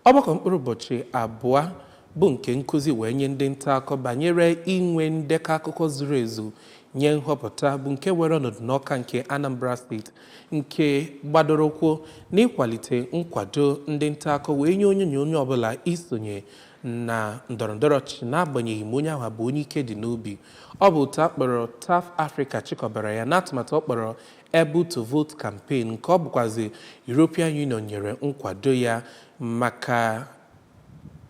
ọgbakọ mkpụrụ ụbọchị abụọ bụ nke nkụzi wee nye ndị nta akụkọ banyere inwe ndekọ akụkọ zuru ezu nye nhọpụta bụ nke were ọnọdụ n'Ọka nke Anambra steeti nke gbadoro ụkwụ n'ịkwalite nkwado ndị nta akụkọ wee nye onye na onye ọbụla isonye na ndọrọndọrọ ọchịchị n'agbanyeghị ma onye ahụ bụ onye ike dị n'obi ọ bụ otu a kpọrọ TAF Africa chịkọbara ya n'atụmatụ ọ kpọrọ Able to Vote campaign nke ọ bụkwazi European Union nyere nkwado ya maka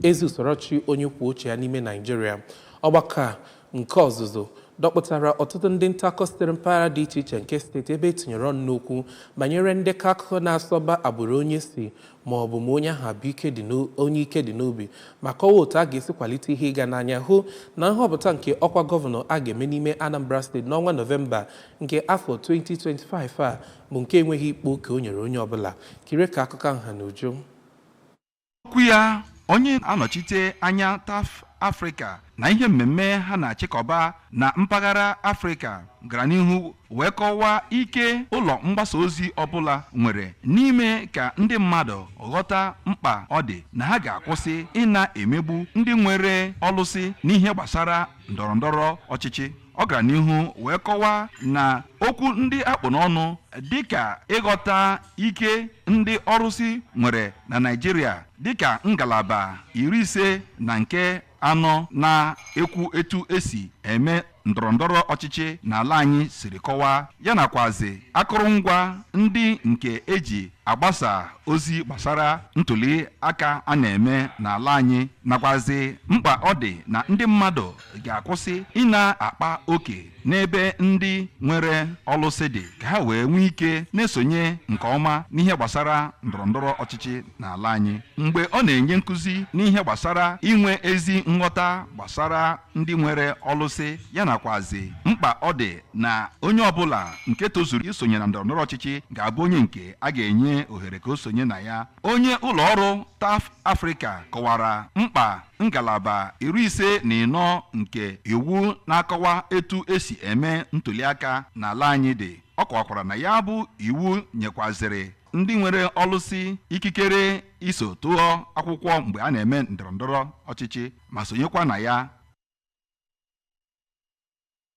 ezi usoro ọchịchị onye kwuo uche ya n'ime Naijiria. Ọgbakọ a nke ọzụzụ dọkpụtara ọtụtụ ndị ntaakụkọ sitere mpaghara dị iche iche nke steeti ebe etinyere ọnụ n'okwu banyere ndekọ akụkọ na-asọba agbụrụ onye si ma ọ bụ ma onye ahụ bụ onye ike dị n'obi ma kọwaa otu a ga-esi kwalite ihe ịga n'anya hụ na nhọpụta nke ọkwa gọvanọ a ga-eme n'ime Anambra steeti n'ọnwa Nọvemba nke afọ 2025 a bụ nke enweghị ịkpa oke o nyere onye ọbụla kirie ka akụkọ ahụ ha n'uju okwu ya onye anọchite anya TAF Africa na ihe mmemme ha na-achịkọba na mpaghara afrịka gara n'ihu wee kọwaa ike ụlọ mgbasa ozi ọbụla nwere n'ime ka ndị mmadụ ghọta mkpa ọ dị na ha ga-akwụsị ịna-emegbu ndị nwere ọlụsị n'ihe gbasara ndọrọ ndọrọ ọchịchị ọ gara n'ihu wee kọwaa na okwu ndị a kpụ n'ọnụ dịka ịghọta ike ndị ọrụsị nwere na Naịjirịa dịka ngalaba iri ise na nke anọ na-ekwu etu esi eme ndọrọndọrọ ọchịchị n'ala anyị siri kọwaa ya nakwazi akụrụngwa ndị nke eji agbasa ozi gbasara ntuli aka a na-eme n'ala anyị nakwazi mkpa ọ dị na ndị mmadụ ga-akwụsị ịna-akpa oke n'ebe ndị nwere ọlụsị dị ka ha wee nwee ike na-esonye nke ọma n'ihe gbasara ndọrọndọrọ ọchịchị n'ala anyị mgbe ọ na-enye nkụzi n'ihe gbasara inwe ezi nghọta gbasara ndị nwere ọlụsị ya nakwazi mkpa ọ dị na onye ọbụla nke tozuru isonye na ndọrọndọrọ ọchịchị ga-abụ onye nke a ga-enye ohere ka o sonye na ya onye ụlọ ọrụ TAF Africa kọwara mkpa ngalaba iri ise na ịnọ nke iwu na-akọwa etu esi eme ntuliaka n'ala anyị dị ọ kọwakwara na ya bụ iwu nyekwaziri ndị nwere ọlụsị ikikere iso tụọ akwụkwọ mgbe a na-eme ndọrọndọrọ ọchịchị ma sonyekwa na ya